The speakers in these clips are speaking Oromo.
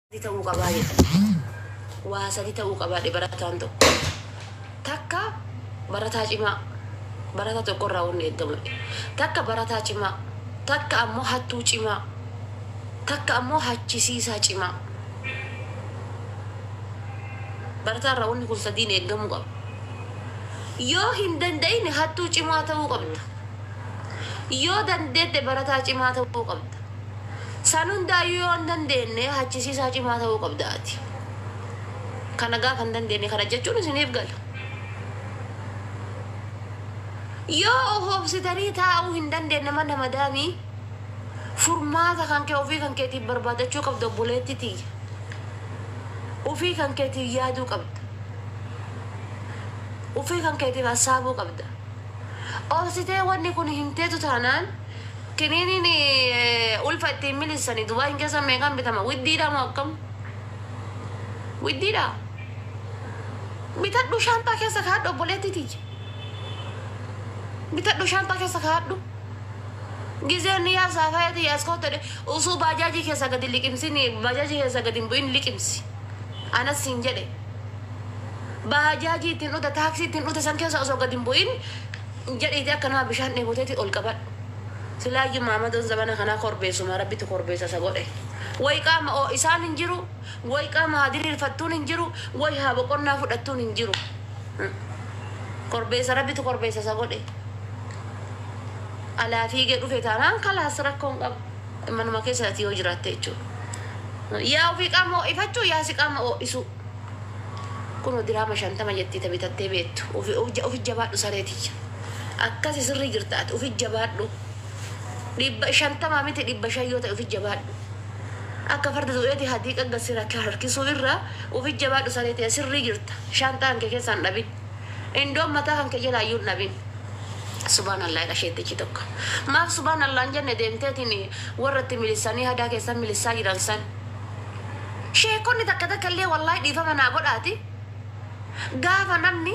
Sadi ta'uu qabaa jedha. Waa sadi ta'uu qabaa dhe barataan tokko. Takka barataa cimaa. Barataa tokko irraa wanni eegamu. Takka barataa cimaa. Takka ammoo hattuu cimaa. Takka ammoo hachisiisaa cimaa. Barataa irraa wanni kun sadiin eegamuu qaba. Yoo hin danda'ine hattuu cimaa ta'uu qabda. Yoo dandeette barataa cimaa ta'uu qabda. San hundaayyuu yoo hin dandeenne hachisiisaa cimaa ta'uu qabda ati. Kana gaafa hin dandeenne kana jechuun isiniif gala. Yoo of obsitanii taa'uu hin dandeenne mana madaamii furmaata kan kee ofii kan keetiif barbaadachuu qabda obboleetti tiyya. Ofii kan keetiif yaaduu qabda. Ofii kan keetiif hassaabuu qabda. Obsitee wanni kun hin teetu taanaan Kiniiniin ulfa ittiin miliissani Dubaayin keessa meeqaan bitama? Widdiidhaa moo akkam? Widdiidhaa? Bitadhu shaanxaa keessa kaa'adhu obboleettii tiyya. Bitadhu shaanxaa keessa kaa'adhu. Gizeen ni yaasaa faaya tiyya as kootta dhe- usuu baajaajii keessa gadi liqimsin baajaajii keessa gadi hin bu'in liqimsi. Anas siin jedhe. Baajaajii ittiin dhute taaksii ittiin dhute san keessa osoo gadi hin bu'in Jedhiiti akka nama bishaan dheeboteeti ol qabadhu. Silaayyu maamadoon zabana kanaa korbeessuma rabbitu korbeessa isa godhe. Way qaama oo'isaan hin jiru, way qaama haa diriirfattuun hin jiru, way haa boqonnaa fudhattuun hin jiru. Korbeessa rabbitu korbeessa isa godhe. Alaa fiigee dhufe taanaan kalaas rakkoo hin qabu. Manuma keessa ati yoo jiraatte jechuudha. Yaa ofii qaama oo'ifachuu yaa si qaama oo'isuu. Kuno diraama shantama jettii ta bitattee beettu ufi jabaadhu saree tiyya akkasi sirrii jirta ati ufi jabaadhu dhibba shantama miti dhibba shan yoo ta'e ufi jabaadhu akka farda du'eeti hadiiqa gad sira harkisuu irra ufi jabaadhu saree tiyya sirrii jirta shaanxaa kan kee keessa hin dhabin indoon mataa kan kee jalaa iyyuu hin dhabin Subaan Allah jedha sheettichi tokko. Maaf subaan Allah hin jenne deemteetiin warra itti milissanii hadaa keessan milissaa jiran san. Sheekkonni takka takka illee wallaahi dhiifama naa godhaati gaafa namni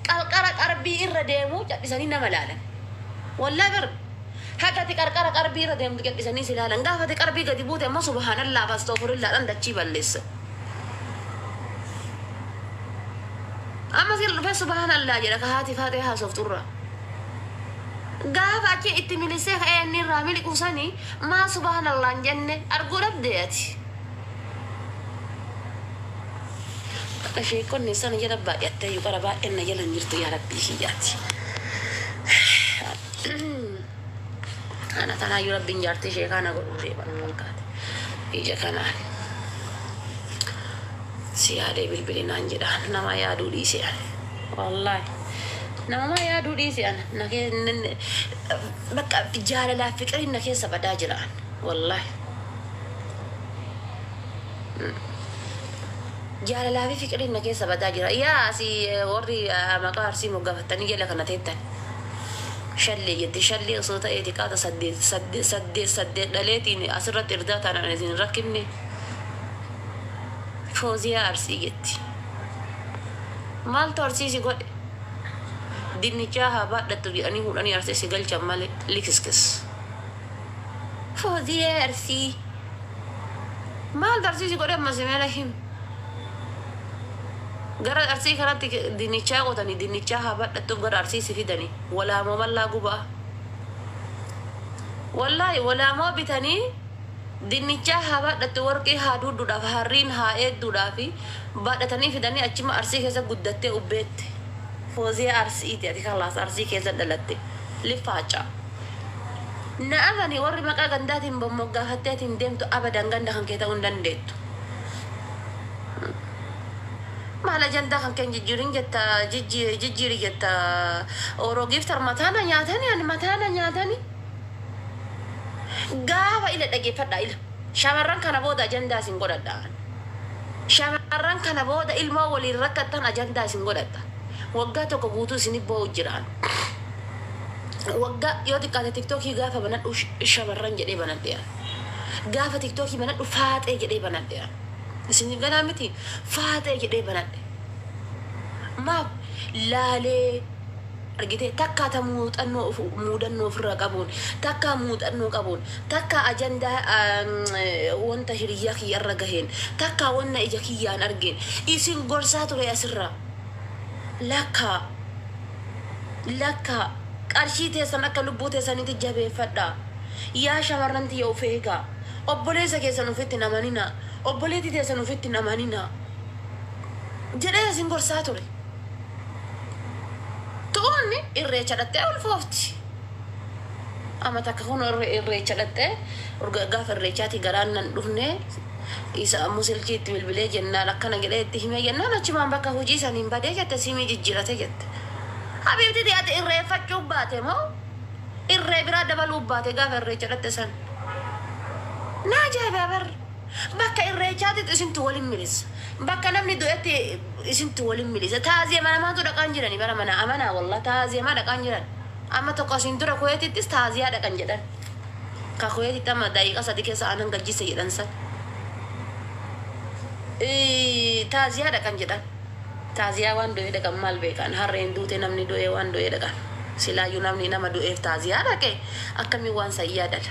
qarqara qarbii irra deemu cadhisanii nama laalan. Wallaahi bar haga ati qarqara qarbii irra deemtu cadhisanii si laalan gaafa ati qarbii gadi buute ammoo subhaanallaa fi astoofurillaa dhaan dachii balleessa. Amma sila dhufee subhaanallaa jedha ka haati faatee haasoftu irraa. Gaafa achi itti milissee ka'ee inni irraa miliquu sanii Maa subahana Allah hin jenne arguu dhabdee ati. Akka sheekkonni sana jala baay'atteeyyu qara baay'een na jala hin jirtu yaa rabbii kiyya ati. Ana kanaayyu rabbiin jaartii sheekaa na godhuu deema na fakkaate ija kanaan. Si yaadee bilbili naan jedha namaa yaaduu dhiise ani. Wallaahi. Namumaa yaaduu dhiise ana. Na kee- Bakka jaalalaa fiqiriin na keessa badaa jira an wallahi jaalalaa fi fiqiriin na keessa badaa jira yaa asii eh, warri ah, maqaa arsii moggaafattanii jala kana teettan shallee jette shallee osoo ta'ee xiqqaata saddeet saddeet saddeet saddeet dhaleetiin asirratti irdaa taanaan isin hin rakkinne fooziyaa arsii jetti maaltu arsiisi godhe dinnichaa haa baadhattu jedhanii fuudhanii arsii si galchan malee likiskis. Fooziyee arsii maaltu arsii si godhe ammas mee na him. Gara arsii kanatti dinnichaa qotanii dinnichaa haa baadhattuuf gara arsii si fidanii walaamoo mallaa gubaa. Wallaahi walaamoo bitanii dinnichaa haa baadhattu warqii haa duudduudhaaf harriin haa eedduudhaafi Baadhatanii fidanii achima Arsii keessa guddattee Ubbeetti. Fooziyaa Arsiiti ati kalaas Arsii keessa dhalatte. Lifaaca. Na amani warri maqaa gandaatiin bommoggaafattee ati hin deemtu abadan ganda kan kee ta'uu hin dandeettu. Maal ajandaa kan kee hin jijjiirin jetta jijjiiri jijjiiri jetta Oro Giiftar mataa na nyaatani ani mataa na nyaatani. Gaafa ila dhageeffadhaa ila. Shamarran kana booda ajandaa isin godhadha ani. Shamarran kana booda ilmoo waliin rakkattan ajandaa isin godhatta. Waggaa tokko guutuu isinif boo'u jiraan. Waggaa yoo xiqqaate tiktookii gaafa banadhu shamarran jedhee banadheera. Gaafa tiktookii banadhu faaxee jedhee banadheera. Isinif galaa miti? Faaxee jedhee banadhe. Maaf? Laalee. argitee takkaa ta muuxannoo of muudannoo ofirraa qabuun takkaa muuxannoo qabuun takkaa ajandaa wanta hiriyyaa kiyya irra gaheen takkaa wanna ija kiyyaan argeen isin gorsaa ture asirraa lakkaa lakkaa qarshii teessan akka lubbuu teessaniitti jabeeffadhaa yaa shamarran tiyya of eegaa obboleessa keessan ofitti hin amaninaa obboleetti teessan ofitti hin amaninaa jedhee isin gorsaa ture. Tuunni irreecha dhaqxee ulfoofti. Amma takka kun irreecha dhaqxee urga- gaafa irreechaatii garaan nan dhufne isa ammoo silkii itti bilbilee jennaan akkana jedhee itti himee jennaan achumaan bakka hojii saniin badee jette siimii jijjiirate jette. Habiibtiti ati irreeffachuu baate moo irree biraa dabaluu baate gaafa irreecha dhaqxe san? Naa ajaa'ibaa bar. Bakka irreechaatitu isintu wal hin milisa. Bakka namni du'etti isintu wal hin milisa. Taaziyeema namaatu dhaqaa hin jirani bara manaa amanaa wallah taaziyeemaa dhaqaa hin jiran. Amma tokko asiin dura kuweetittis taaziyaa dhaqan jedhan. Ka kuweetitti amma daqiiqa sadi keessa aanan gajjisse jedhan san. Taaziyaa dhaqan jedhan. Taaziyaa waan du'ee dhaqan maal beekan harreen duute namni du'ee waan du'ee dhaqan. Silaayyuu namni nama du'eef taaziyaa dhaqe akkamiin waan san yaadata.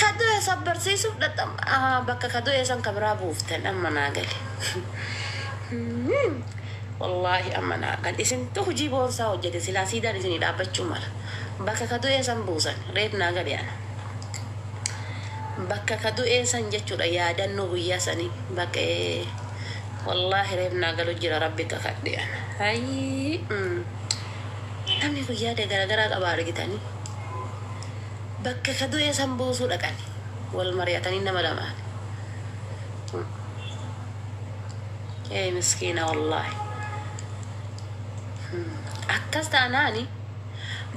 Kaduu eessa barsiisuuf dhaqxan bakka kaduu eessan ka biraa buuftan amma naa gale. Wallaahi amma naa gale. Isintu hojii boonsaa hojjete silaa siidaan isinii dhaabbachuu mala. Bakka kaduu eessan buusan reef naa gale ana. Bakka kaduu eessan jechuudha yaadannoo guyyaa sanii bakka Wallahi reef naa galu jira rabbi kakadhe an ayii umm namni kun yaada garagaraa qaba argitani bakka ka du'ee san buusuu dhaqani wal mari'atanii nama lamaan umm ee miskiina wallahi umm akkas taanaani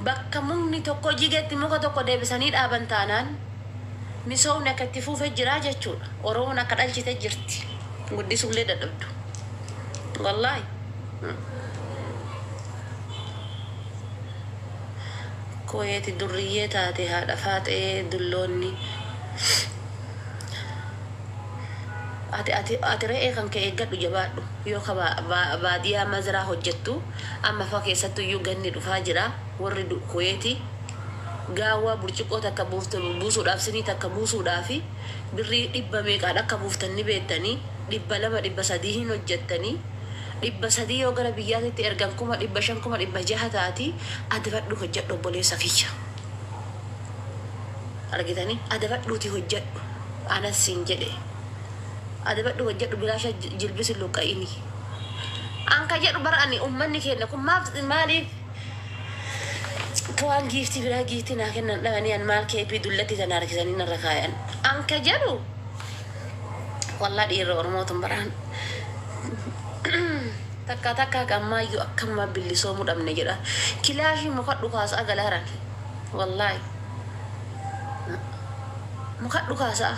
bakka mukni tokko jigetti muka tokko deebisanii dhaaban taanaan Misoomni akka itti fuufe jiraa jechuudha. Oromoon akka dhalchite jirti. Guddisuullee dadhabdu. Wallaahi. Kuweeti durriyyee taate haadha faaxee dulloonni. Ati ati ati re'ee kan kee eeggadhu jabaadhu. Yoo ka ba- ba- baadiyaa mazraa hojjettu amma fa keessattu iyyuu ganni dhufaa jira. Warri du Kuweeti gaawwaa burciqqoo takka buuftu buusuudhaaf sinii takka buusuudhaafi birrii dhibba meeqaan akka buuftan ni beettanii? Dhibba lama dhibba sadii hin hojjattanii? Dhibba sadii yoo gara biyyaatitti ergan kuma dhibba shan kuma dhibba jaha taati adabadhuu hojjadhu obboleessa kiyya. Argitanii? Adabadhuutii hojjadhu anas siin jedhe. Adabadhuu hojjadhu bilaasha jilbis hin luqqa'inii. An ka jedhu bar ani ummanni keenna kun maaf maaliif Tawaan giiftii biraa giiftii naa kennan dhabanii an maal keeppii dullattii tana harkisanii narra kaayan an ka jedhu wallah dhiirri oromoo tun baraan takkaa takkaa ka ammaayyuu akkamuma billisoomuu dhabne jedha kilaashii muka dhukaasaa galaaran wallahi muka dhukaasaa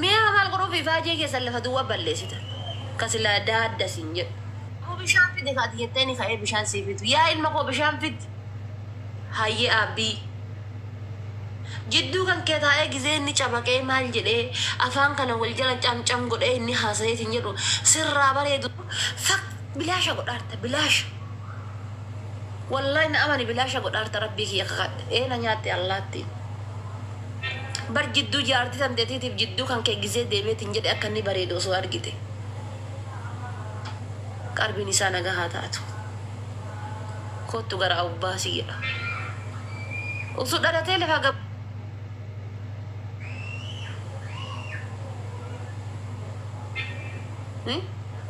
mi'a maal godhuuf ifaajee keessan lafa duwwa balleessitan ka silaa daadda siin jedhu. Aboo bishaan fidi ka ati jetteeni ka'ee bishaan sii fidu yaa ilma koo bishaan fid Hayyee Aabbii Jidduu kan kee taa'ee gizee inni cabaqee maal jedhee afaan kana wal jala cam cam godhee inni haasa'ee siin jedhu sirraa bareedu fak bilaasha godhaarta bilaasha Wallaahi na amani bilaasha godhaarta Rabbii kiyya kakadhe ee na nyaatte allaattiin Bar jidduu jaartii tanteetiitiif jidduu kan kee gizee deemeetiin jedhe akka inni bareedu osoo argite. Qarbin isaa naga haa taatu kottu gara awbaa si jedha usu dhalatee lafaa gab Hi?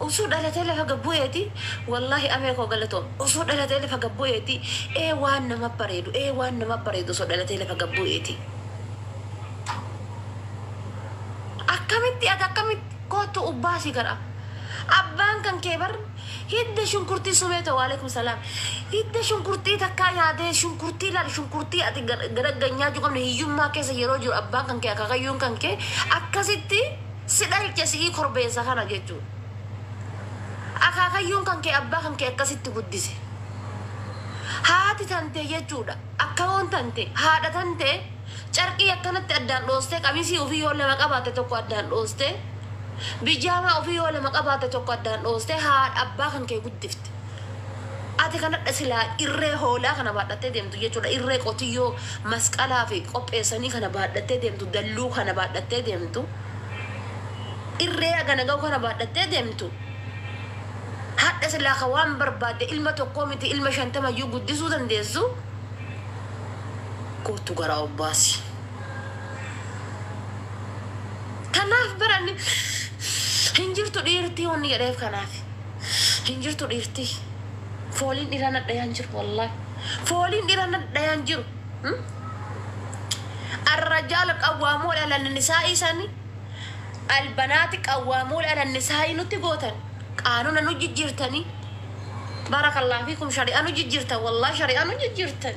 Usu dhalatee lafa gab bu'eeti wallahi amee koo galatoom usu dhalatee lafa gab bu'eeti ee waan nama bareedu ee waan nama bareedu usu dhalatee lafa gab bu'eeti akkamitti ati akkamitti Koottu ubbaasi gara Abbaan kan kee bar hidda shunkurtii sumee too walekum salam hidda shunkurtii takkaa nyaatee shunkurtii laal shunkurtii ati gadaggan nyaachuu qabne hiyyummaa keessa yeroo jiru abbaan kan kee akakayyuun kan kee akkasitti si dhalche si'ii korbeessa kana jechuu akaakayyuun kan kee abbaa kan kee akkasitti guddise haati tantee jechuudha akkawoon tantee haadha tantee Carqii akkanatti addaan dhoostee qamisii ufii yoo lama qabaatte tokko addaan dhoostee bijaamaa ufii yoo lama qabaatte tokko addaan dhoostee haadha abbaa kan kee guddifte. Ati kanadha silaa irree hoolaa kana baadhattee deemtu jechuudha irree qotiyyoo masqalaafi qopheessanii kana baadhattee deemtu dalluu kana baadhattee deemtu irree hagana gahu kana baadhattee deemtu hadha silaa ka waan barbaadde ilma tokkoo miti ilma shantamayyuu guddisuu dandeessu Koottu garaa of baasi. Tan naaf baranne hin jirtu dhiirtii wanni jedheef kanaaf. Hin jirtu dhiirtii. Fooliin dhiraa nadhayaan jiru wallaahi. Fooliin dhiraa nadhayaan jiru. Hmm? Arrajaal qawwaamuul ala nisaa'ii sani albanaati qawwaamuul ala nisaa'ii nutti gootan qaanuna nu jijjiirtanii. Barakallah fiikum shari'aa nu jijjiirtan wallaahi shari'aa nu jijjiirtan.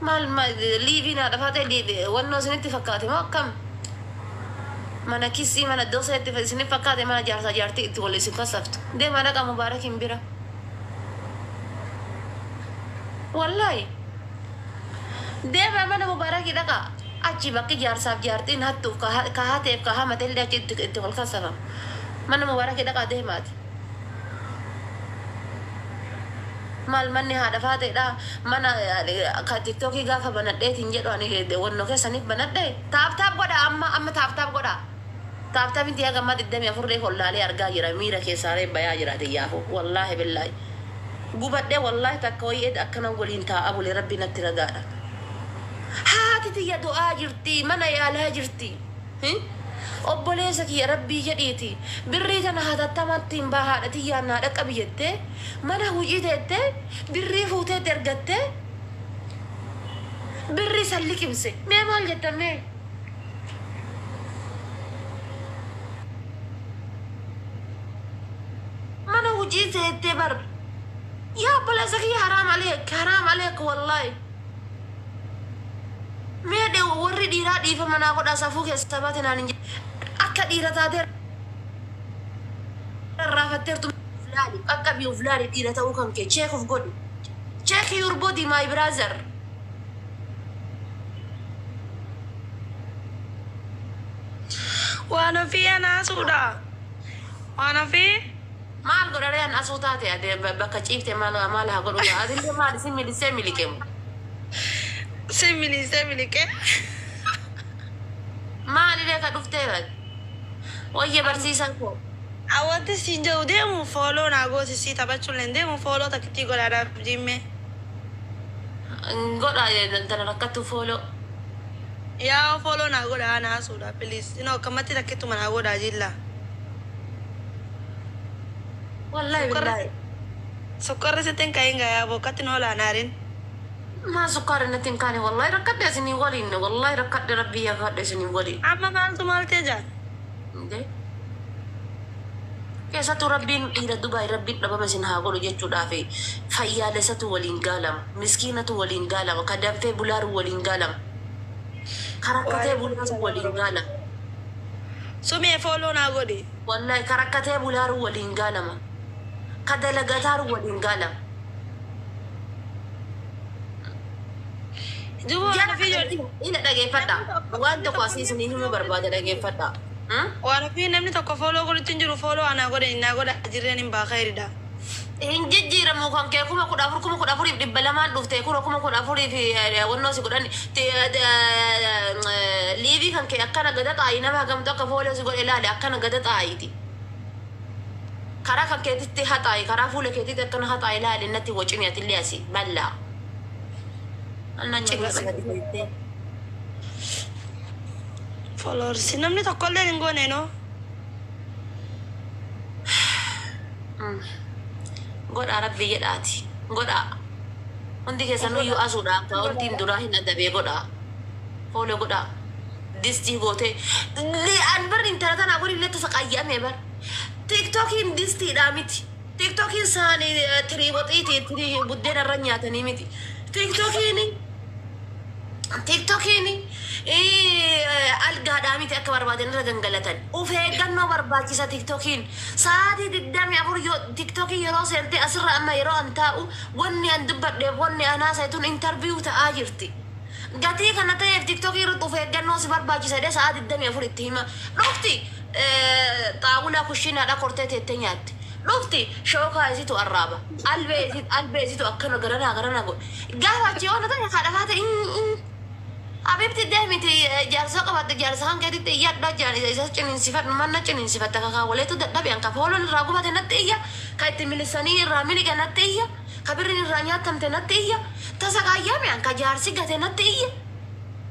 Maal ma liiviin haadha faaxee diibe wannoo isinitti fakkaate moo akkam? Mana kissii mana dosee itti isinif fakkaate mana jaarsaa jaartii itti wal isin fassaftu. Deemaa dhaqaa Mubaarakiin bira. Wallaahi. Deemaa mana Mubaarakii dhaqaa. Achi bakki jaarsaaf jaartiin hattuuf ka hateef ka hamatellee achi itti wal kassafama. Mana Mubaarakii dhaqaa deemaati. Maal manni haadha faaxeedha mana ka tiktoki gaafa banadheeti hin jedhu ani wanno keessanif banadhe tap tap godha amma amma tap tap godha tap tap inti haga amma 24 reef ol laalee argaa jira miira keessaa reef bayaa jira tiyyaafu wallahi billahi gubadhe wallahi takka wayii eda akkana waliin taa'a bule rabbi natti ragaadha haati tiyya du'aa jirti mana yaalaa jirti. Hi obboleessa kiyya rabbii jedhiiti birrii tana hatattamattiin baa haadha tiyyaan naa dhaqqabi jettee mana hujii teettee birrii fuutee itti ergattee birrii san liqimse mee maal jettan mee. mana hujii teettee bar yaa obboleessa kiyya haraam aleek haraam aleek wallahi. Mee dhe warri dhiiraa dhiifama naa godhaa safuu keessaa baate naan hin jedhin. Akka dhiira taatee rarraafatteertu mee uf laali, qaqqabii uf laali dhiira ta'uu kan kee check uf godhi. Check your body my brother. Waan ofii anaasuudha. Waan ofii. Maal godha ree an asuu taate ade bakka ciifte maal maal haa godhu gaa atillee maali si milissee miliqe mo. Si miliisee miliqee. Maali ree ka dhuftee bar. Wayye barsiisaa koo. An wantin siin jedhu deemu follow naa goosisii taphachulleen deemu follow takkittii godhaa naaf jiimmee. Godha tana rakkattu follow. Yaa'oo follow naa godhaa ana asuudha please inoo akkammatti takkittuma naa godhaa jiillaa. Wallahi Sukkar- billahi. Sukkarri sitti hin ka'in gayaa boo akkatti nu olaan aarin. Maa sukkaari natti hin kaane wallahi rakkadhe isinii waliin wallahi rakkadhe rabbii yaafadhe isinii waliin. Amma maaltu maal ta'e jaa? Indee. Keessattuu rabbiin dhiira Dubaay rabbiin dhabama isin haa godhu jechuudhaaf fayyaalessatu waliin gaalama. Miskiinatu waliin gaalama. Ka danfee bulaaru waliin gaalama. Ka rakkatee bulaaru waliin gaalama. Sumee fooloo naa godhi. Wallay ka rakkatee bulaaru waliin gaalama ka dalagataaru waliin gaalama. Duba waan ofii yoo Ina dhageeffadha waan tokko asii isinii himuu barbaada dhageeffadha. waan ofii namni tokko follow godhutti hin jiru follow anaa godhani naa godha jirreen hin baa kayridha. Hin jijjiiramu kan kee kuma kudha afur kuma kudha afuriif dhibba lamaan dhufte kura kuma kudha afuriif wannoo si godhan liivii kan kee akkana gada xaa'i nama hagamtu akka fooloo si godhe laale akkana gada xaa'iiti karaa kan keetitti haxaa'i karaa fuula keetitti akkana haxaa'i laale natti wocimi atillee asi ballaa anna Cibra nyaataa sana sirrii dhiyeessee followers namni tokkolleen hin goone noo. Godhaa rabbii jedhaati godhaa hundi keessanuyyuu asuudha akkaawontiin duraa hin adabee godhaa follow godhaa distii gootee an bar intala tanaa waliin lettu saqaayya'amee bar tiktokiin distiidhaa miti. Tiktokiin saanii tirii waxiiti tirii buddeena irra nyaatanii miti. Tiktokiin tiktokiin algaadhaa miti akka barbaadan irra gangalatan. Uf eeggannoo barbaachisa tiktokiin. Sa'aatii digdamii afur yoo tiktokii yeroo seentee asirra amma yeroo an taa'u wanni an dubbadheef wanni an haasa'e tun interview ta'aa jirti. Gatii kana ta'eef tiktok irratti of eeggannoo si barbaachisa jedhee sa'aa 24 itti hima. Dhufti xaawulaa kushinaadhaa kortee teettee nyaatti. Dhufti shookaa isitu arraaba. Albee albee isitu akkana garanaa garanaa godha. Gaafa achii oolu ta'e haadha faata in in. Habibti deemiti jaarsa qabatte jaarsa kan keetitti iyyadha jaan isa isa ciniinsifadhu manna ciniinsifatta kakaa waleetu dadhabe anka fooloon irraa gubate natti iyya ka itti milisanii irraa miliga natti iyya. Ka birrin irraa nyaattamte natti iyya, ta sagaayyaa mi'aan ka jaarsi gate natti iyye,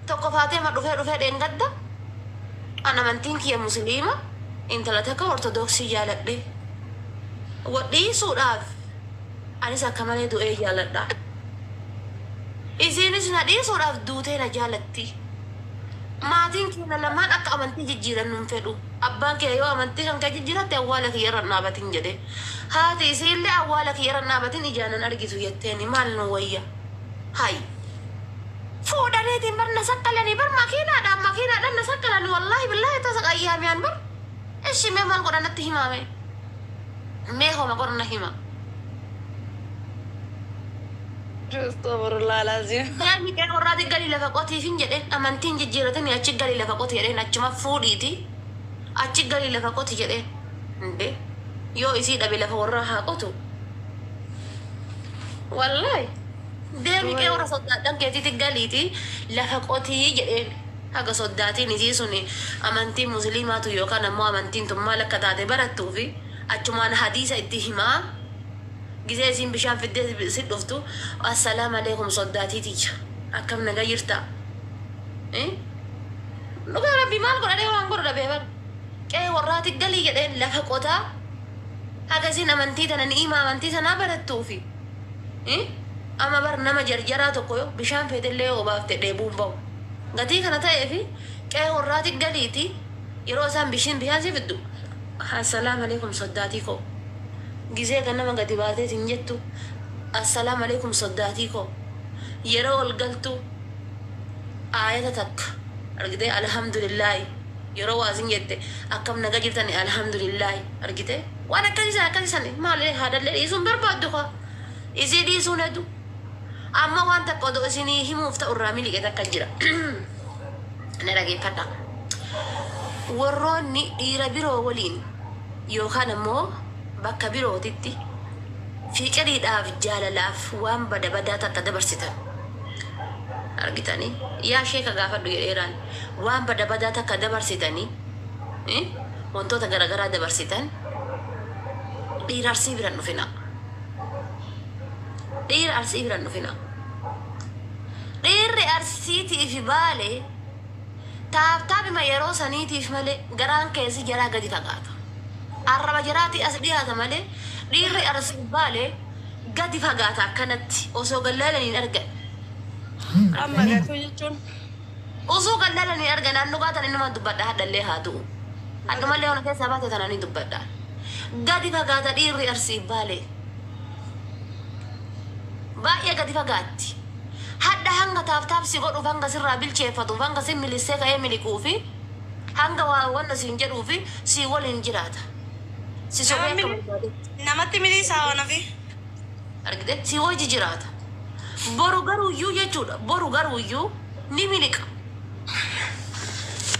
tokko faatee ma dhufee dhufee dheengadda, an amantiin kiyya musiliima, intala takka ortodooksii jaaladhe. Wal dhiisuudhaaf anis akka malee du'ee jaaladha. Isiinis na dhiisuudhaaf duutee na jaalatti. Maatiin keenna lamaan akka amantii jijjiirannu hin fedhu. Abbaan kiyya yoo amantii kan kee jijjiiratte awwaala kiyya irra hin dhaabatin jedhe. Haati isiille awwaala kiyya irra hin dhaabatin ijaan hin argitu jetteeni. Maal nuu wayya? Hay! Fuudhaniitiin bar na saqqalanii bar makiinaadhaan makiinaadhaan na saqqalani wallaahi billaahi tasa qayyaamiyaan bar. Eshi mee maal godha natti himaa mee? Mee homa godha na hima. Astofurullah alazim. Deemi qe'ee warraati gali lafa qotiifin jedheen amantiin jijjiiratini achi gali lafa qoti jedheen achuma fuudhiiti Achi galii lafa qoti jedheen. Hinde yoo isii dhabe lafa warraa haa qotu. Wallahi deemi qee warra soddaadhan keetiiti galiiti lafa qotii jedheen. Haga soddaatiin isii suni amantii musliimaatu yookaan ammoo amantiin tun maal akka taate barattuufi achumaan hadiisa itti himaa gizee isiin bishaan fiddee si dhuftu assalaamu aleeykum soddaatii tiyya akkam naga jirtaa? Eh? Dhugaa rabbii maal godha dhee waan godhu dhabee bar. Qe'ee warraati galii jedheen lafa qotaa haga isin amantii tana ni'imaa amantii sanaa barattuufi. Eh? Amma bar nama jarjaraa tokko yoo bishaan feetellee yoo obaafte dheebuun bahu. Gatii kana ta'eefi qe'ee warraati galiiti yeroo isaan bishin bishaan si fiddu Assalaam alaikum soddaatii koo. Gizee ganama gadi baatee sin jettu Assalaam alaikum soddaatii koo. Yeroo ol galtu Aayata takka argitee Alhamdulillaahi yeroo waazin jette akkam naga jirtani Alhamdulillaahi argitee waan akkasi san akkasi san maali haadhallee dhiisuu hin barbaaddu kaa isii dhiisuun hedu amma waan takka odoo isinii himuuf ta'u irraa miliqe takka jira na dhageeffadha warroonni dhiira biroo waliin yookaan ammoo Bakka birootitti fiqiriidhaaf jaalalaaf waan bada badaa takka dabarsitan argitanii yaa sheeka gaafadhu jedheeraan waan bada badaa takka dabarsitanii ii wantoota garagaraa dabarsitan dhiira arsii biran dhufina dhiira arsii biran dhufina dhiirri arsiitiifi baale Taabtaabima yeroo saniitiif malee garaan keessi jaraa gadi fagaata. Arraba jaraatii as dhiyaata malee dhiirri arrabsatu baalee gadi fagaata akkanatti osoo gad laalan hin argan. Amma Sanii gatuu jechuun. Osoo gad laalan hin argan an dhugaa tan innumaan dubbadha hadhallee haa du'u. Hadhumallee ona keessaa baate tana ni dubbadha. Gadi fagaata dhiirri arsiif baalee. Baay'ee gadi fagaatti. Hadha hanga taaf taaf si godhuuf hanga sirraa bilcheeffatuuf hanga sin milissee ka'ee miliquufi hanga waa wanna siin jedhuufi sii waliin jiraata. Si sobee akka barbaadetti. Namatti miliisaa waan ofii. Argitee? Si wajji jiraata. Boru garuuyyuu jechuudha boru garuuyyuu ni miliqa.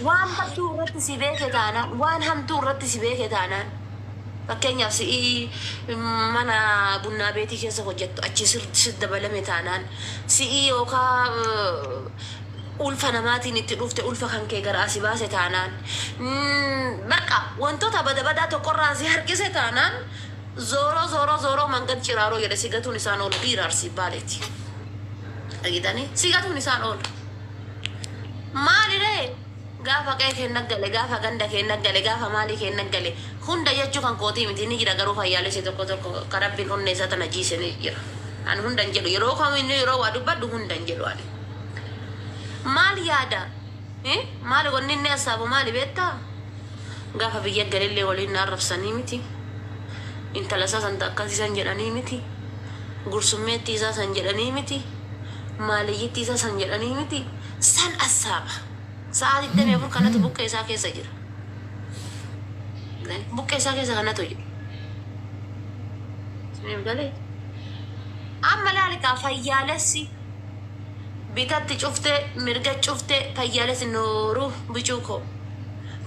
Waan badduu irratti si beeke taanaan waan hamtuu irratti si beeke taanaan. Fakkeenyaaf si'i mana bunnaa beetii keessa hojjattu achii sitti dabalame taanaan, si'i yookaa ulfa namaatiin itti dhufte ulfa kan kee garaa si baase taanaan, bakka wantoota bada badaa tokko irraa si harkise taanaan zooroo zooroo zooroo mangad ciraaroo jedhe si gatuun isaan oolu biira Arsii Baaleeti. Dhagitanii? Si gatuun isaan oolu. Maaliree? Gaafa qe'ee keenna gale, gaafa ganda keenna gale, gaafa maalii keenna gale, hunda jechuu kan kootii miti, ni jira garuu fayyaalessi tokko tokko ka Rabbiin onnee isaa tana jiise ni jira. Ani hunda hin jedhu, yeroo kamiinuu yeroo waa dubbadhu hunda hin jedhu ani. Maal yaada? Hi? Maali wanni inni hassaabu maali beettaa? Gaafa biyya galillee waliin na arrabsanii miti. Intala isaa santa akkasii san jedhanii miti. Gursummeettii isaa san jedhanii miti. Maaliyyittii isaa san jedhanii miti. San assaaba. Sa'aa 24 kanatu buqqee isaa keessa jira. Galee? Buqqee isaa keessa kanatu jira. Isiniif galee? Amma laali kaa fayyaalessi bitatti cuftee mirga cuftee fayyaalessi nooruu bicuu koo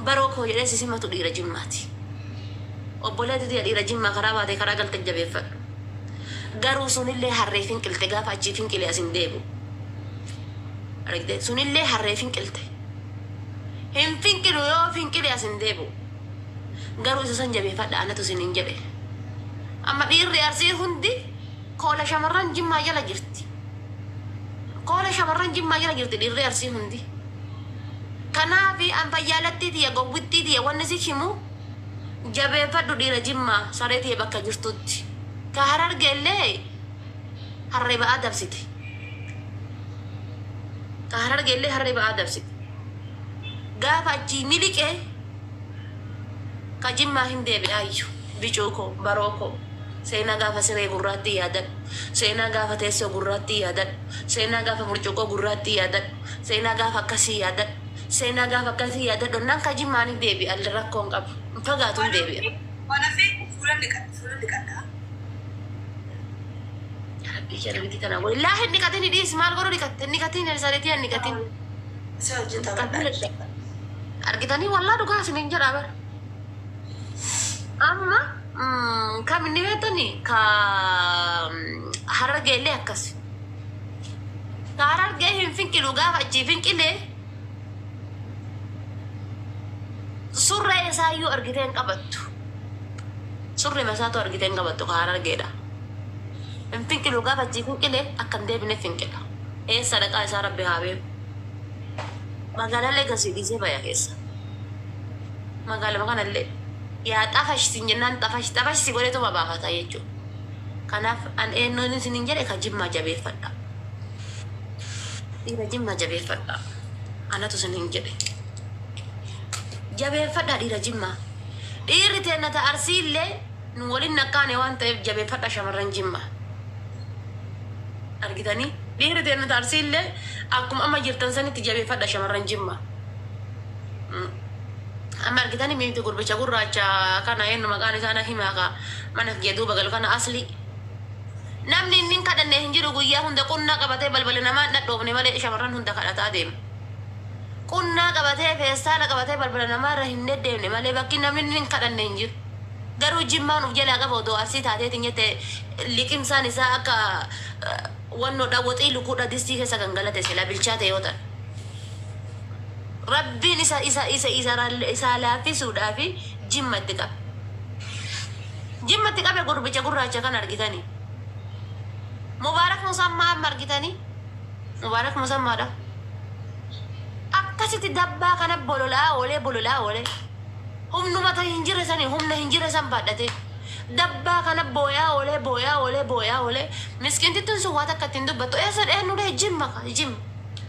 baroo koo jedhee si simatu dhiira jimmaati. Obboleetti tiyya dhiira jimmaa karaa baatee karaa galte jabeeffadhu. Garuu sunillee harree finqilte gaafa achii finqilee as hin deebi'u. argitee sunillee harree finqilte hin finqilu yoo finqile as hin deebi'u garuu isa san jabeeffadha anatu isin hin jedhe amma dhiirri arsii hundi koola shamarran jimmaa jala jirti koola shamarran jimmaa jala jirti dhiirri arsii hundi kanaafi an fayyaalattii tiyya gowwittii tiyya wanni si himu jabeeffadhu dhiira jimmaa saree tiyya bakka jirtutti ka hararge illee Harree Ba'aa dabsite. Ta Harargeellee Harree Ba'aa dabsite. Gaafa achii miliqe ka Jimmaa hin deebi'aayyu. Bicuu koo, Baroo koo, seenaa gaafa siree gurraattii yaadadhu. Seenaa gaafa teessoo gurraattii yaadadhu. Seenaa gaafa burcuqqoo gurraattii yaadadhu. Seenaa gaafa akkasii yaadadhu. Seenaa gaafa akkasii yaadadhu hennaan ka Jimmaa ni deebi'a rakkoon qabu. Hin fagaatu hin deebi'a. Waan hafe fuula dhiqadha. Rabbii kee namitti tanaa godhe. Laa hin dhiqatin hidhiis maal godhu dhiqatte hin dhiqatin saritii hin dhiqatin. Si wajjin taphadha. Argitanii wallaa dhugaa isiniin jedhaa bara. Amma mm, kam inni beektani ka mm, harargee illee akkas. Ka harargee hin finqilu gaafa achii finqile surree isaa iyyuu argitee hin qabattu. Surrema isaatu argite hin qabattu ka harargeedha. Hin finqilu gaafa achii finqile akka hin deebine finqila. Eessa dhaqaa isaa rabbi haa beeku. Magaalallee gasii dhiisee baya keessa. Magaaluma kanallee yaa xafash siin jennaan xafash xafash si godheetuma baafata jechuu. Kanaaf an eennuun isiniin jedhe ka jimmaa jabeeffadha. Dhiira jimmaa jabeeffadha. Anatu isiniin jedhe. Jabeeffadhaa dhiira jimmaa. Dhiirri teenna ta Arsii illee nu woliin nakkaane waan ta'eef jabeeffadha shamarran Jimmaa. Argitanii? Dhiirri teenna ta Arsii illee akkuma amma jirtan sanitti jabeeffadha shamarran Jimmaa. Amma argitanii miiti gurbicha gurraacha kana eennu maqaan isaa na himaa ka mana kiyya duuba galu kana Aslii. Namni inni hin kadhanne hin jiru guyyaa hunda qunnaa qabatee balbala namaa hin dhadhoofne malee shamarran hunda kadhataa deema. Qunnaa qabatee, feestaala qabatee balbala namaa irra hin deddeemne malee bakki namni inni hin kadhanne hin jiru. Garuu Jimmaan of jalaa qaba odoo Arsii taatee tin jette liqimsaan isaa akka wannoo dha woxii lukuu dha distii keessa kan galate silaa bilchaate yoo ta'e. Rabbiin isa isa isa isa ra- isaa laaffisuudhaafi Jimmatti qabe. Jimmatti qabe gurbicha gurraacha kan argitanii. Mubaarak Musaa amma amma argitanii. Mubaarak musammaa dha. Akkasitti dabbaa kana bolola'aa oolee bolola'aa oolee humnuma ta hin jirre saniin humna hin jirre san baadhatee dabbaa kana booyaa oolee booyaa oolee booyaa oolee miskiintittuun sun waa takka itti hin dubbattu eessan eennu dhee jimma ka jim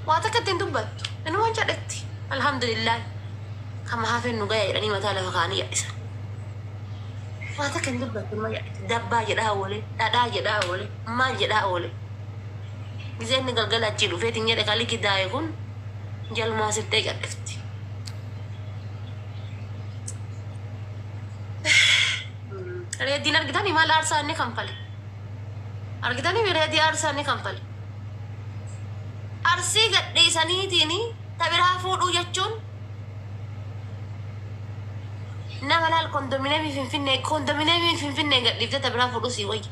waa takka itti hin dubbattu inuman cadhetti alhamdulillaahi kama hafeen nu gaya jedhanii mataa lafa kaanii yadhisan waa takka hin dubbattu numa yadhatti dabbaa jedhaa oolee dhadhaa jedhaa oolee maal jedhaa oolee Gizee inni galgala achii dhufee tin jedhe ka liki daaye kun jalumaa sirtee gadhifti. Reediin argitanii maal aarsaa inni kanfale. Argitanii mi reedii aarsaa inni kanfale. Arsii gadhiisaniitiin ta biraa fuudhuu jechuun nama laal kondomineemii finfinnee kondomineemii finfinnee gadhiiftee ta biraa fuudhuu sii wayya.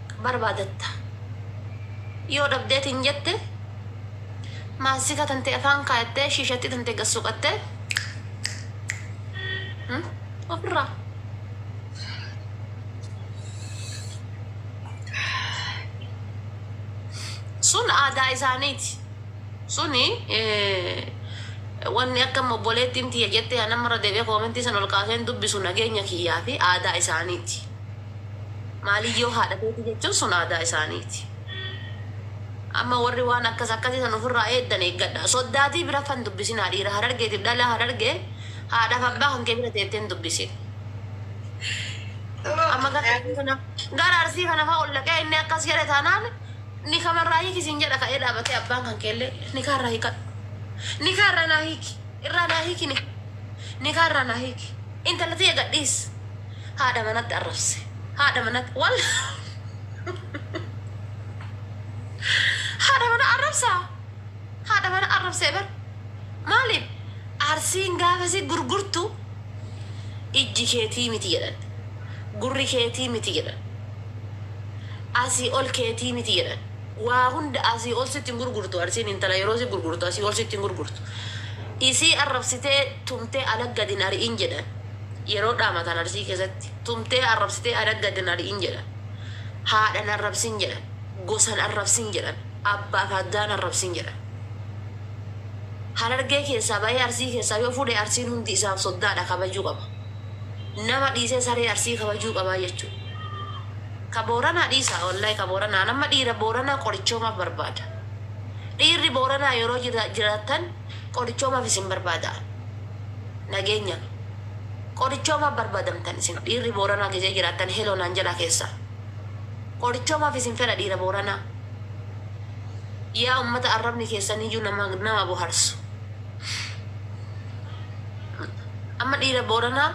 barbaadatta. Yoo dhabdee tin jette, maasika tante afaan kaayattee shiishattii tante gad soqattee ofirraa. Sun aadaa isaaniiti. Suni wanni akka obboleettiin tiyya jette yaa namarra deebi'ee koomentii san ol kaaseen dubbisu nageenya kiyyaa fi aadaa isaaniiti. Maaliyyoo haadha teeti jechuun sun aadaa isaaniiti. Amma warri waan akkas akkasii san ufirraa eeddan eeggadhaa. Soddaatii bira fa hin dubbisinaa dhiira Harargeetiif dhalaa Harargee haadhaaf abbaa kan kee bira teettee hin dubbisin. Amma gara Arsii kana gara Arsii kana fa ol dhaqee inni akkas jedhe taanaan nikama irraa hiiki siin jedha ka'ee dhaabatee abbaan kan kee illee nikaa irraa hiikadhu. Nikaa irraa naa hiiki. Irraa naa hiiki nikaa. Nikaa irraa naa hiiki. Intala tiyya gadhiis. Haadha manatti arrabse. Haadha manatti wal Haadha mana arrabsa. Haadha mana arrabse bar. Maaliif? Arsiin gaafasi gurgurtu ijji keetii miti jedhan. Gurri keetii miti jedhan. Asii ol keetii miti jedhan. Waa hunda asii ol sitti hin gurgurtu arsiin intala yeroo si gurgurtu asii ol sitti hin gurgurtu. Isii arrabsitee tumtee ala gad hin ari'in jedhan. yeroo dhaamatan Arsii keessatti, tumtee arrabsitee adagga din ari'in jedhan. Haadhan arrabsin jedhan. Gosan arrabsin jedhan. Abbaa fi addaan arrabsin jedhan. Harargee keessaa ba'ee Arsii keessaa yoo fuudhe Arsiin hundi isaaf soddaadha kabajuu qaba. Nama dhiisee saree Arsii kabajuu qabaa jechuu. Ka Booranaa dhiisaa wallahi ka Booranaa an amma dhiira Booranaa qorichoomaaf barbaada. Dhiirri Booranaa yeroo jira- jiraattan qorichoomaaf isin barbaada. Nageenya. Qorichoo maaf barbadamtan isin dhiirri booranaa gizee jiraattan hello naan jedhaa keessaa. Qorichoo maaf isin fedha dhiira booranaa. Yaa ummata arrabni keessan iyyuu nama nama boharsu. Amma dhiira booranaa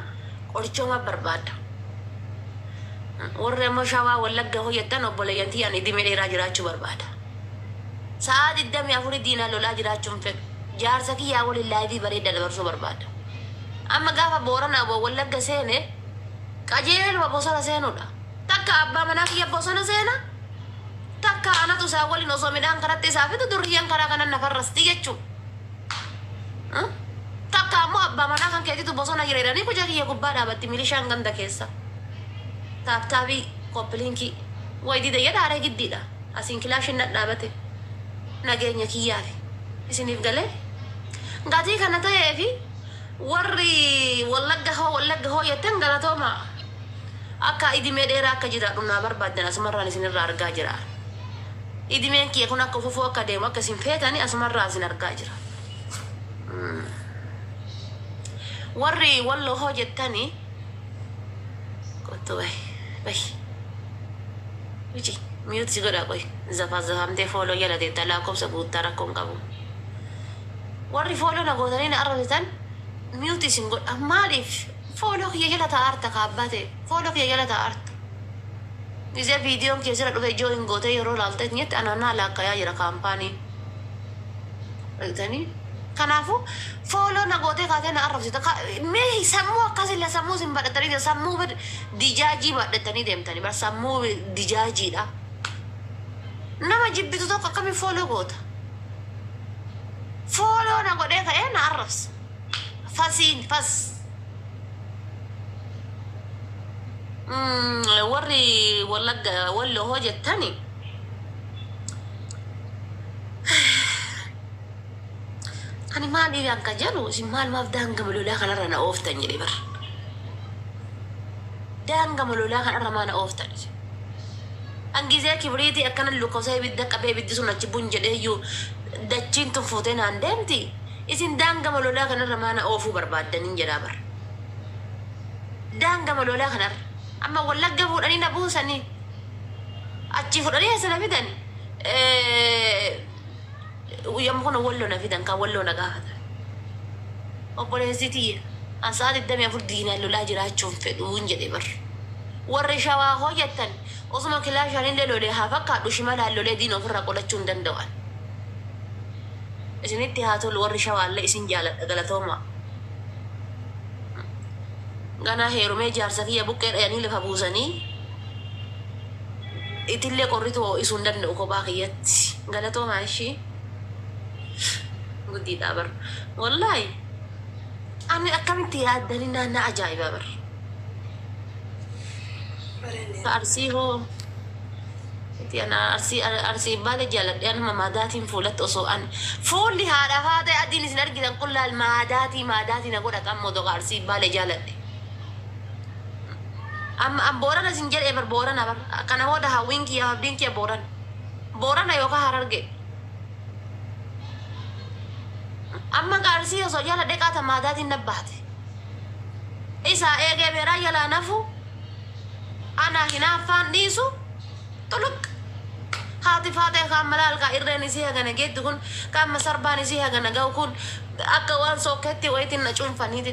qorichoo maaf barbaadda. Warri ammoo shawaa wallagga hoo jettan obboleeyyan tiyyaan idime dheeraa jiraachuu barbaada. Sa'aa 24 diinaan lolaa jiraachuu hin fedhu. Jaarsa kiyyaa waliin live bareedda dabarsuu barbaada. Amma gaafa Boorana abo Wallagga seene qajeeluma bosona seenuudha. Takka abbaa manaa kiyya bosona seena, takka anatu isaa waliin osoo midhaan karatti isaa fidu durriyyeen karaa kanan na farrasti jechuu. Takka ammoo abbaa manaa kan keetitu bosona jira jedhanii kuja kiyya gubbaa dhaabatti milishaan ganda keessa. Taaptaabii, koppiliinkii. Way dide jedha aree giddiidha. Asiin kilaashiin dhadhaabate nageenya kiyyaafi. Isiniif galee? Gatii kana ta'eefi warri Wallagga hoo Wallagga hoo jettan galatoomaa. Akka idimee dheeraa akka jiraadhu naa barbaaddan asumarraan isinirraa argaa jira. Idimeen kiyya kun akka fufuu akka deemu akka isin feetani asumarraa isin argaa jira. Warri Walloo hoo jettani Kottu bahi bahi. Uci mute si godha qoy zafazafamtee follow jala teetta laakobsa guuttaa rakko hin qabu warri follow na gootanii na arrabsitan mute isin godha maaliif follow kiyya jala taa'arta ka abbaa ta'e follow kiyya jala taa'arta gizee videon kee sira dhufe join gootee yeroo laalta itti jetti anaan naa laakkayaa jira kaampaanii Argitanii? Kanaafuu fooloo na gootee kaatee na arrabsita. Ka- Mee sammuu akkasilla sammuu isin badhatanii deemtan. Sammuu bad- dijaajii badhatanii deemtanii bar sammuu dijaajiidha. Nama jibbitu tokko akkamiin fooloo goota? Fooloo na godhee ka'ee na arrabsa. Fasiin fas. Mm, warri wallagga walloo hoo jettani Ani maal dhiiraan kan jedhu isin maal maaf daangama lolaa kanarra na ooftan jedhe bar. Daangama lolaa kanarra maa na ooftan isin. An gizee kibriitii akkana lukkosee ibidda qabee ibiddi sun achi bun jedheeyyuu dachiin tun fuutee naan deemti. Isin daangama lolaa kanarra maa na oofuu barbaaddaniin jedhaa bar. Daangama lolaa kanarra amma wallagga fuudhanii na buusanii. Achii fudhanii asana fidani. Yamma kana walloo na fidan kan walloo na gaafatan. Obboleessi tiyya an sa'a 24 diinaan lolaa jiraachuun fedhuun jedhe bar. Warri shawaa hoo jettan osuma kilaashaanillee lolee haa fakkaadhu shimalaan lolee diina ofirraa qolachuu hin danda'an. Isinitti haa tolu warri shawaallee isin jaaladha galatoomaa. Ganaa heerumee jaarsa kiyya buqqee dhayanii lafa buusanii Itillee qorrituu ho'isuu hin danda'u kophaa kiyyatti. Galatoomaa ishii. Gudiidhaa bar. Wallaahi ani akkamitti yaaddanii naan na ajaa'ibaa bar. Ka arsii hoo Ati ana arsii arsii baale jaaladhe anuma maadaatiin fuulatti osoo an fuulli haadha faatee adiin isin argitan kun laal maadaatii maadaatii na godha qammoo doqa arsii baale jaaladhe. Am, am Boorana sin jedhee bar Boorana bar. Kana booda hawwiin kiyya abdiin kiyya Boorana. Boorana yookaan Harargee. Amma gaa Arsii osoo jala dheqaa ta maadaatiin na baate. Isaa eegee beeraa jalaa nafu anaa hinaaffaan dhiisu xuluq. Haati faaxee kaan malaal kaa irreen isii hagana geetti kun kaan masarbaan isii hagana ga'u kun akka waan sookkeetti wayitiin na cuunfaniiti.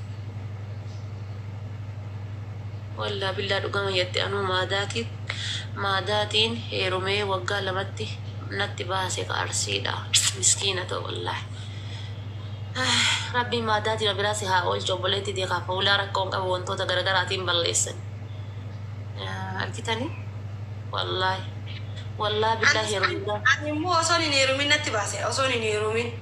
Wallah billah dhugama jette anuu maadaatiin heerumee waggaa lamatti natti baase ka arsiidha miskiina too wallah rabbiin maadaatima biraa si haa oolchu obboleetti tee kaa fuulaa rakkoo hin qabu wantoota garagaraatiin balleessan argitani wallah wallah billah heerumudhaa. Ani immoo osoon hin heerumin natti baase osoon hin heerumin.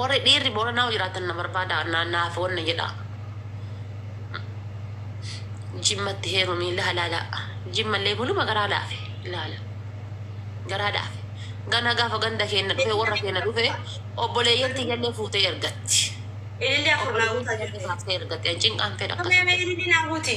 Warri dhiirri Booranaa hoo jiraattan na barbaadaa na naaf wanna jedhaa. Jimmatti heerumii laha laala. Jimmallee buluma garaa laafe laala. Garaa laafe. Gana gaafa ganda keenna dhufe warra keenna dhufe obboleeyyan tiyyallee fuutee ergatti. Ililli afur naa Obboleeyyan guutaa tiyyallee jirti. baaftee ergatti. An cinqaan fedha Mee akkasitti. mee ililli naa guuti.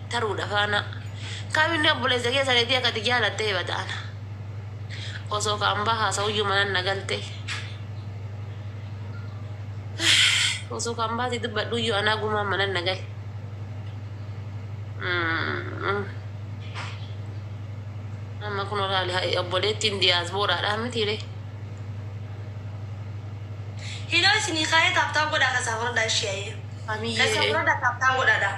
taruudha faana kaam inni obboleessa kee sareetii akka ati jaalatte hibata ana osoo kaan baa haasa'uyyuu manan na galte osoo kaan baati dubbadhuyyuu anaa gumaan manan na gale amma kun olaali obboleettiin diyaasbooraadhaa mitiire Hidhoo isinii kaayee taaptaa godhaa kasaa furdaa ishee ayyee. Kasaa furdaa taaptaa godhaadhaa.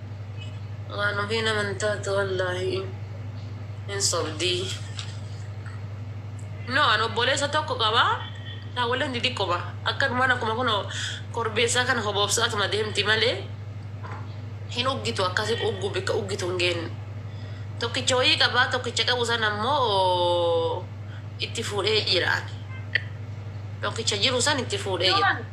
Waan ofiin amantaa tu wallaahi hin sobdii. No an obboleessa tokko qaba taawwaleen xixiqqoma akkanumaan akkuma kun korbeessaa kana hoboobsaatuma deemti malee hin uggitu akkasi uggu bikka uggitu hin geenne. Tokkicha wayii qabaa tokkicha qabu san ammoo itti fuudhee jira. Tokkicha jiru san itti fuudhee jira.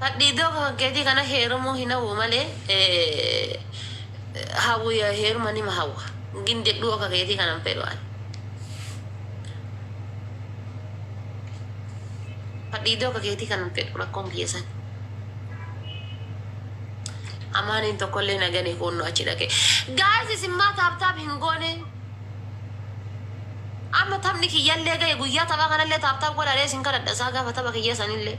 Hadhiidoo akka kankeetii kana heerumuu hin hawwu malee hawwu heeruma nima hawwa. Gin dedhuu akka keetii kana hin fedhu ani. Hadhiidoo akka keetii kana hin fedhu rakkoon kiyya san. Amaaniin tokkollee na gane kuunnu achi dhaqe. Guys isin maa taap taap hin goone? Amma taphni kiyyallee gahe guyyaa taphaa kanallee taap taap godhaadhee isin kadhadha isaa gaafa tapha kiyya sanillee.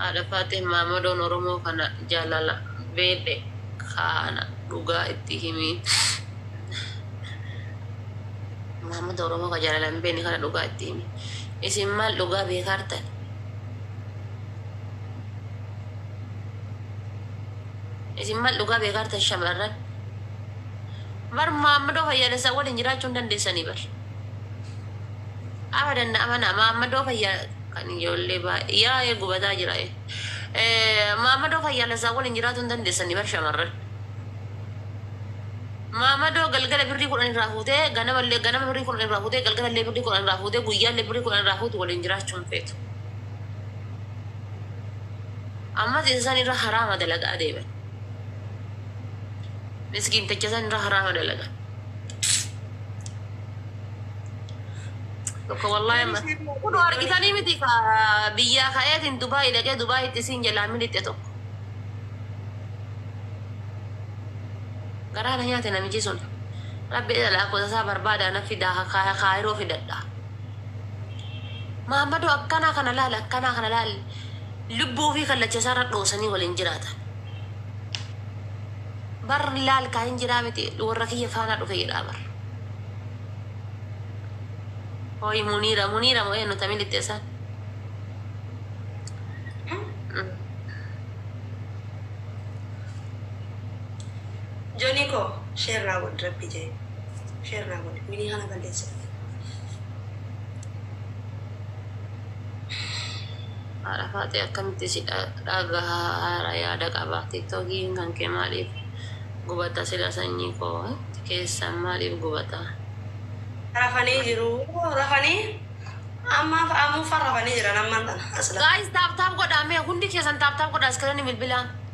Haadha faaxee maamadoon oromoo kana jaalala beedhe kaana dhugaa itti himii. Maamada oromoo ka jaalala hin beekne kana dhugaa itti himi isin maal dhugaa beekaartan isin maal dhugaa beekaartan shamarran bar maamadoo fayyaalessaa waliin jiraachuu hin dandeessanii bar Afa danda'a mana maammadoo fayyaa kan ijoollee baay'ee yaa'ee gubataa jira. Maammadoo fayyaalessaa waliin jiraatu hin dandeessanii bar shamarran. Maammadoo galgala birrii kudhan irraa fuutee ganama illee ganama birrii kudhan irraa fuutee galgala illee birrii kudhan irraa fuutee guyyaa illee birrii kudhan irraa fuutu waliin jiraachuu hin feetu. Ammas isa san irra haraama dalagaa deeman. Miskiin techa san irra haraama dalagan. Tokko wallaahi amma. Kun argitanii miti ka biyyaa ka'eetiin Dubaayii dhaqee Dubaayitti isiin jalaa milixe tokko. Garaa na nyaate namichi sun. Rabbi jedha lakkoofsa isaa barbaadaa na fidaa ka kaa- kaayiroo fidadha. Maammadoo akkanaa kana laali akkanaa kana laali. Lubbuu fi kallacha isaarra dhoosanii waliin jiraatan. Bar laal kaa hin jiraa miti worra kiyya faana dhufe jedhaa bar. Hooyi muniira muniira mo eennu tami lixxe san. Jonii koo share naa godhi rabbi jee share naa godhi minii kana balleessuuf. Haadha Faaxee akkamitti si dhagaha haara yaada qaba tiktokiin kankee maaliif gubata sila sanyii koo keessan maaliif gubata. Rafanii jiruu rafanii ammaaf ammuuffa rafanii jiran ammaan tana aslan. Guys tap tap godhaa mee hundi keessan tap tap godhaa screen bilbilaa.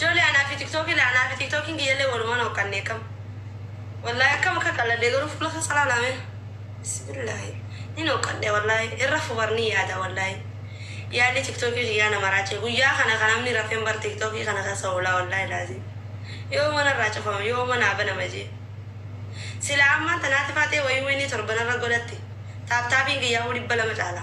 Jole anaa fi tiktoki la anaa fi tiktokin kiyya illee waluman hoqqanne kam wallahi akkam akka qalladhe garuu fuula kessa laala mee bismillahi nin hoqqadhe wallahi hin rafu bar nin yaada wallahi yaadni tiktoki kiyyaa na maraache guyyaa kana kan namni rafen bar tiktoki kana kessa oolaa wallahi laazim yooma narraa cufama yooma naa banama jee silaa ammaan tanaati faatee wayuu inni torban irra godhatte taaptaapiin kiyyaahuu dhibba lama caala.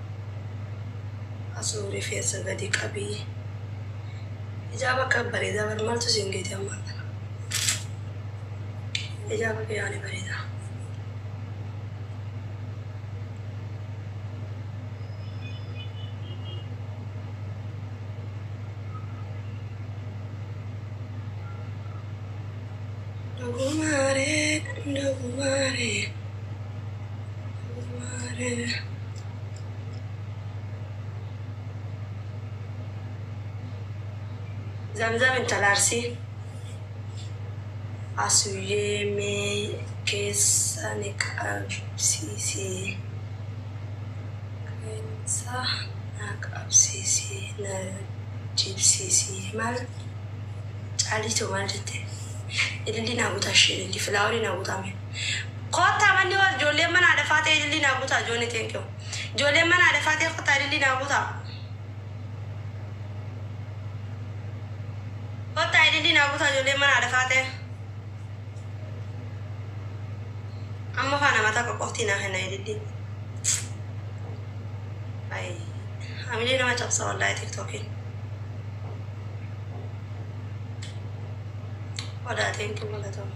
Asuu rifeensa gadi qabii. Hijaaba akka bareedaa bar maaltu siin geete ammaan kana. Hijaaba kee yaani bareedaa. Dogumaaree dogumaaree. Zamzam intala Arsii. Asuyee mee keessa ni qabsiisi. Keessa na qabsiisi na jibsiisi. Maal caalii too maal jette? Ilillii naa gutaa ishee ilillii filaawolii naa gutaa mee. Kottaa manni wal ijoolleen mana haadha faatee ilillii naa gutaa Johnny thank you ijoolleen mana haadha faatee kottaa ilillii naa gutaa kottaa ilillii naa gutaa ijoolleen mana haadha faatee amma faa nama takka qoftii naa kenna ilillii Ay, hamilee nama cabsa wallaahi tiktokiin odaa thank you galatooma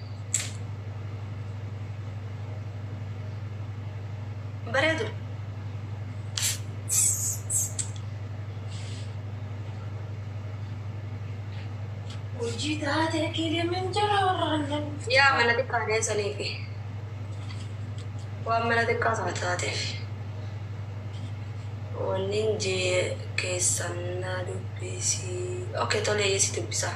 bareedu hojii taatee kiilimin jala warraannan yaa mana xiqqaa deessanii fi waan mana xiqqaa sana taateef wannin jee keessan na dubbisi ok tolee si dubbisaa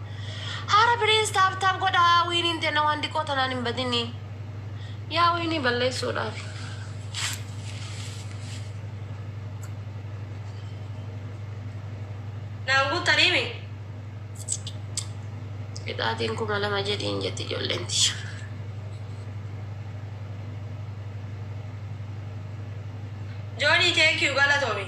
Hara please tap tap godhaa wiiniin tenna waan diqoo tanaan hin badini yaa wiinii balleessuudhaafi. Naan guuttanii mi? Qixaatiin kuma lama jedhiin jetti ijoolleen tiyya. Johnny thank you galatoomi.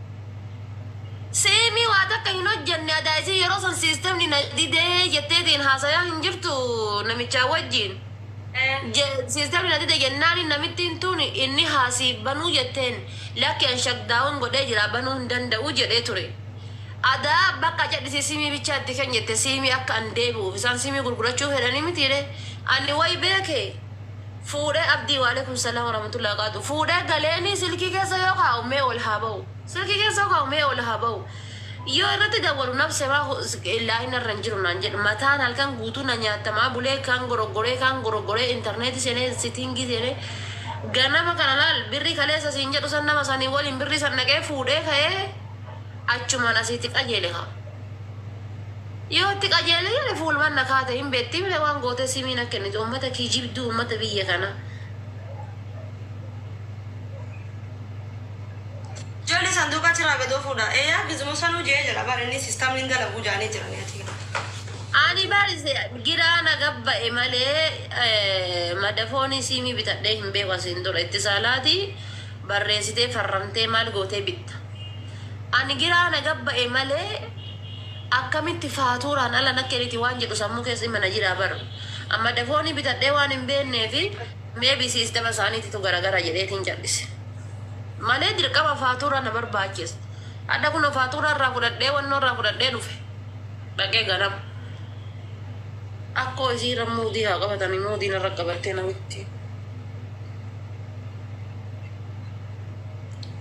Seemii waa takka hin hojjanne adaa isii yeroo san siistemni na didee jetteetiin haasayaa hin jirtu namichaa wajjiin siistemni na dide jennaani namittiin tun inni haa siif banuu jetteen lakki an shakdaawun godhee jiraa banuu hin danda'u jedhee ture adaa bakka cadhisii siimii bichaa itti kenni jette siimii akka an deebi'uuf isaan siimii gurgurachuu fedhanii mitiiree ani way beekee Fuudhee abdii walekum salam waramatullah waqatu fuudhee galeeni silkii keessa yoo kaa'u mee ol haa ba'u silkii keessa yoo kaa'u mee ol haa ba'u yoo irratti dawwalu nabse maa illaahi narra hin jiru naan jedhe mataan halkan guutuu na nyaattamaa bulee kaan goroggoree kaan goroggoree interneeti seenee sitiingii seenee ganama kana laal birrii kaleessa siin jedhu san nama sanii waliin birrii san dhaqee fuudhee ka'ee achumaan asiiti qajeele kaa. Yoo itti qajeele jedhe fuulman na kaata hin beetti mire waan gootee simii na kennite ummata kijibduu ummata biyya kana. Jolli sanduuqa achirraa gad ofuudha. Ee yaa gizimo sanuu je'ee jira bar inni systemni hin dalaguu ja'anii jiranii ati. Ani bar giraa na gabba'e malee madafooni siimii bitadhee hin beeku asiin dura itti saalaati barreesitee farramtee maal gootee bitta. Ani giraa na gabba'e malee akkamitti faatuuraan ala na keniti waan jedhu sammuu keessa ima na jiraa bar amma dafoonii bitadhee waan hin beenneefi maybe siistema isaaniititu garagara jedheetiin callise malee dirqama faatuuraa na barbaachisa hadha kuno faatuuraa irraa fudhadhee wannoo irraa fudhadhee dhufe dhaqee ganama akkoo isii irra muudii haa qabatani muudii narra qabattee namitti.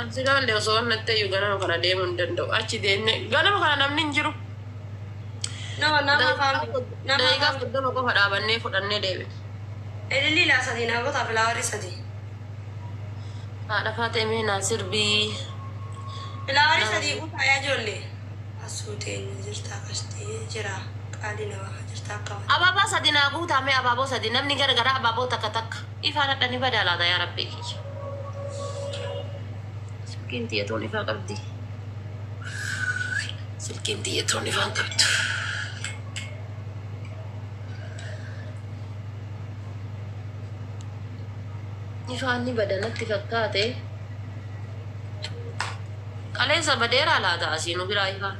An silaalle osoo ol natteyyu ganama kana deemuu hin danda'u. Achi deemnee ganama kana namni hin jiru. No, nama Daqiiqaa afaan bi- sod- nama daqiiqaa afaan bi- soddoma qofa dhaabannee fudhannee deebine. Ilillii laa sadii naa gotaa filaawarii sadii. Haadha Faatee mee naa sirbii. Filaawarii Nama- sadii guutaa yaa ijoollee. Asuu teenya jirtaa qashtii jira qaalii namaa kan jirtaa akka malee. Abaabaa sadi naa guutaa mee abaaboo sadi namni gara garaa abaaboo takka takka. Ifaan hadha ni badaa laata yaa rabbii kiyya silkiin tiyya tuun ifaa qabdii silkiin tiyya tuun ifaa hin qabdu. Ifaan ni bada natti fakkaate kaleessa badeeraa laata asii nu biraa ifaan.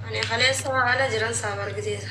Ani kaleessa ala jiran saaf argiteesa.